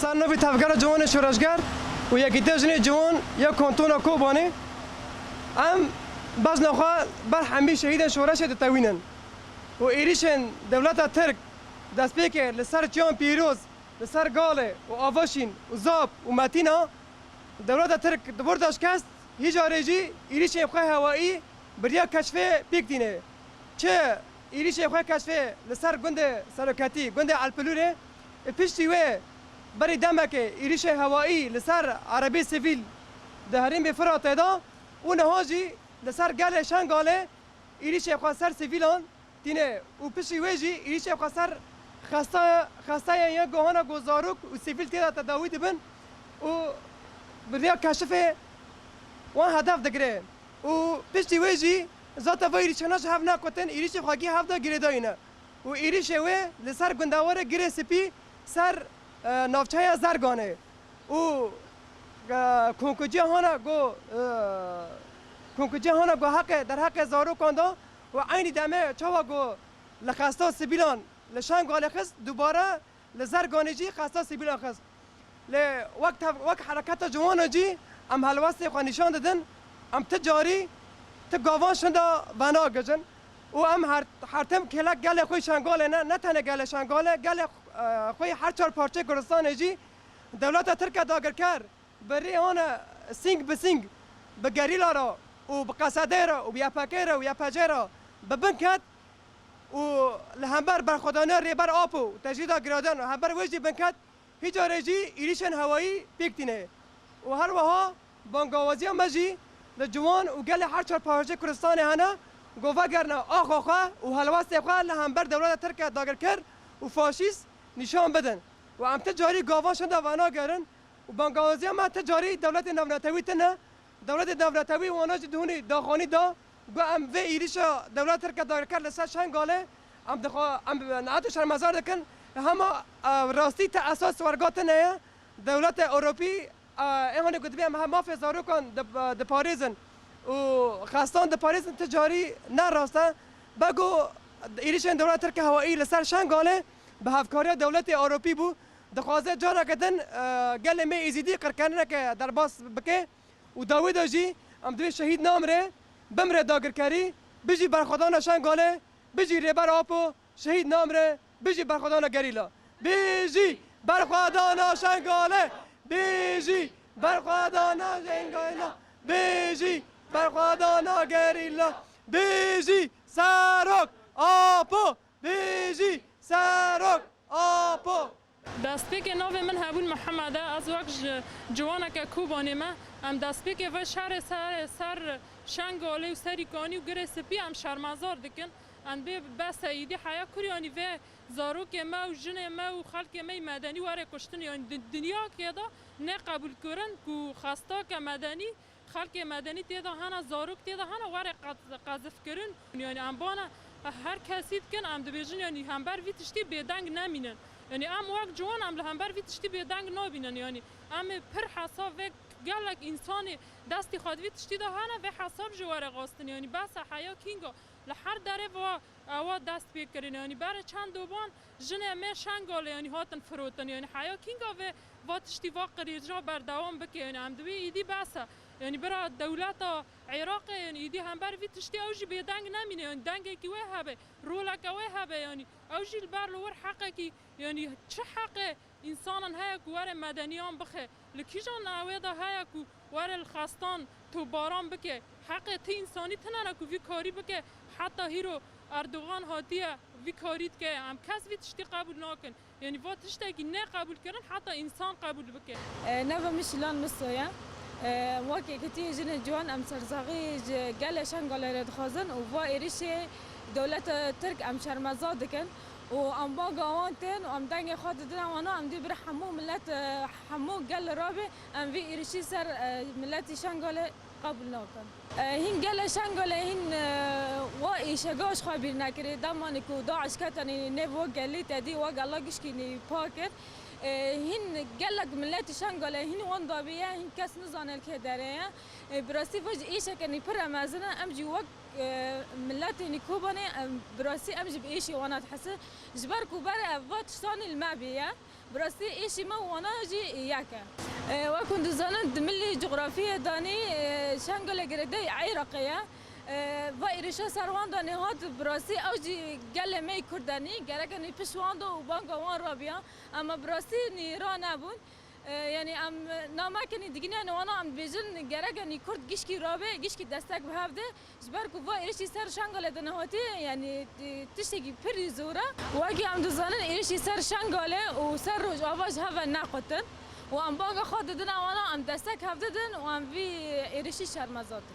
Sal nû bî Tevgera Ciwanê Şoreşger û Yekîtiya Jinê Ciwan ya Kantona Kobanê em bezna xwe ber hemî şehîdên şoreşê ditewînin û êrîşên dewleta Tirk destpêkê li ser Çiyan Pîroz, li ser Galê û Avaşîn û Zap û Metîna dewleta Tirk di borca şikest hî carê jî êrîşên xwe hewaî biriya keşfê pêk tînê. Çi êrîşê xwe keşfê li ser gundê seroketî, gundê Elpilûrê Piştî wê berî demekê êrîşê hewayî li ser erebî sivîl di herêmê Firatê de û niha jî li ser gelê Şengalê êrîşê xwe ser sivîlan tîne û piştî wê jî êrîşê xwe ser xesteyên yên guhana ku zarok û sivîl tê de tedawî dibin û bi rêya keşifê wan hedef digire û piştî wê jî zata vê êrîşana ji hev nekutin êrîşê xwegî hev de girêdayîne. û êrîşê wê li ser gundewarê Girê Spî ser navçeya Zerganê û konkûcihana ku konkûcihana ku heqê derheqê zarokan da û eynî demê çawa ku li Xesto sivîlan li Şengalê xist dubare Li Zerganê jî qasda sivîlan xist. Lê wek tev wek hereketa ciwanan jî em helwestê xwe nîşan didin, em ti carî ti gavan şinda venagijin û em her her tim kêlek gelê xwe yî Şengalê ne, ne tenê gelê Şengalê, gelê xwe yî her çar parçeyê Kurdistanê jî dewleta Tirk e dagirker bi rê wan e sîng bi sîng bi gerîla re û bi qesedê re û bi ypk re û ypc re bi bin ket. û li hember berxwedana Rêber Apo û tecrîda giradan li hember wê jî binket hîç carê jî êrîşên hewayî pêk tîne û her wiha bangawaziya me jî li ciwan û gelê her çar parçeyê Kurdistanê hene ku vegerine axa xwe û helwestê xwe li hember dewleta tirke dagirker û faşîst nîşan bidin û em ti carî gavan şinda venagerin û bangawaziya me ti carî dewletê navnetewî tune dewletê navnetewî wana jî di hûnî daxanî da Got em vê êrîşa dewleta Tirk a dagirker li ser Şengalê em dixwe em nehat û şermezar dikin. Li hema rastî te esas werga tune ye. Dewleta Ewropî ê hane ku dibê em hema mafê zarokan diparêzin û xestan diparêzin ti carî ne rast e. Bego êrîşên dewleta Tirk a hewayî li ser Şengalê bi hevkariya dewleta Ewropî bû. Dixwaze careke din gelê me Êzîdî qirkerineke derbas bike. û dawî de jî em divê şehîd namire, bimire dagirkerî, bijî berxwedana Şengalê, bijî Rêber Apo, şehîd namire, bijî berxwedana gerîla. Bijî berxwedana Şengalê, bijî berxwedana Şengalê, bijî berxwedana gerîla, bijî Serok Apo, bijî Serok Apo. Destpêkê navê min Hebûn Mihemed e, ez wek ji ciwaneke Kobanê me. Em destpêkê vê şerê ser Şengalê û Serî Kanî û Girê Spî em şermezar dikin. Em bê be Seîdî heya Kuryanî vê zarokê me û jinê me û xelkê me yê medenî were kuştin. Yanî di dinyakê de ne qebûlkirin ku xestake medenî Xelkê medenî tê de hene, zarok tê de hene were qezifkirin. Yanî em bana her kesî dikin, em dibêjin yanî hember vî tiştî bêdeng nemînin. Yanî em wek ciwan em li hember vî tiştî bêdeng nabînin. Yanî em ê pir hesab vek gelek însanê destê xwe di vî tiştî de hene vê hesab jî were xwestin. Yanî behsa heya kînga li her derê va ewa dest pê kirin. Yanî berê çend doban Jinê me Şengolê yanî hatin firotin yanî heya kînga vê va tiştî va qirîrcina berdewam bike yanî em divê îdî behsa yanî bira dewleta Iraqê yanî îdî hember vî tiştî ew jî bêdeng nemîne yanî dengekî wê hebe roleke wê hebe yanî ew jî li ber li wir heqekî yanî çi heqê însanan heye ku were medeniyan bixe. Li kîjan navê de heye ku were li xestan topbaran bike? Heqê ti însanî tune ne ku vî karî bike? Heta hîro Erdogan hatiye vî karî dike ye. Em kes vî tiştî qebûl nakin. Yanî va tiştekî ne qebûlkirin heta însan qebûl bike. Nava min Şilan Miso ye. Weke ku tu yê jinê ciwan em sersaxî ji gelê Şengalê re dixwazin û va êrîşê dewleta Tirk em şermezar dikin û em ba gawan tên û em dengê xwe di dila wan e, em dê bira hemû milet e, hemû gel re be, em vê êrişî ser miletî Şengalê qebûl nakin. Hîn gelê Şengalê hîn wa êşega ji xwe bîr nekirî, demanê ku DAIŞ ketanî nêv we gelê te dî we gela gişkînî pa kir. Hîn gelek miletî Şengalê hîn wan dabî ye, hîn kes nizane li kê derê ye. Bi rastî vê jî êşeke nî pire mezin e, em jî wek Miletê nî Kobanê bi rastî em jî bi êşê wan a dihisi ji ber ku ber ev va tiştanê li me bêye. Bi rastî êşê me û wana jî yek e. Wek hûn dizanin di milî cografîyê de nî Şengale girêdayî Îraqê ye. Va êrîşa ser wan de nî hat bi rastî ew jî gelê me yê Kurd e nî gerek e nî pişt wan de û banga wan ra biya. Ema bi rastî nî ra nebûn. Yanî em namekinî digîne ne wana em dibêjin gerek e nî kurd gişkî rabe, gişkî destek bi hev de. Ji ber ku va êrişî ser Şengalê di nehatî yanî tiştekî pirî zor e. Wekî em dizanin êrişî ser Şengalê û ser Rojava ji hev ve nequtin û em banga xwe didin ew wana em destek hev didin û em vî êrişî şermezar dikin.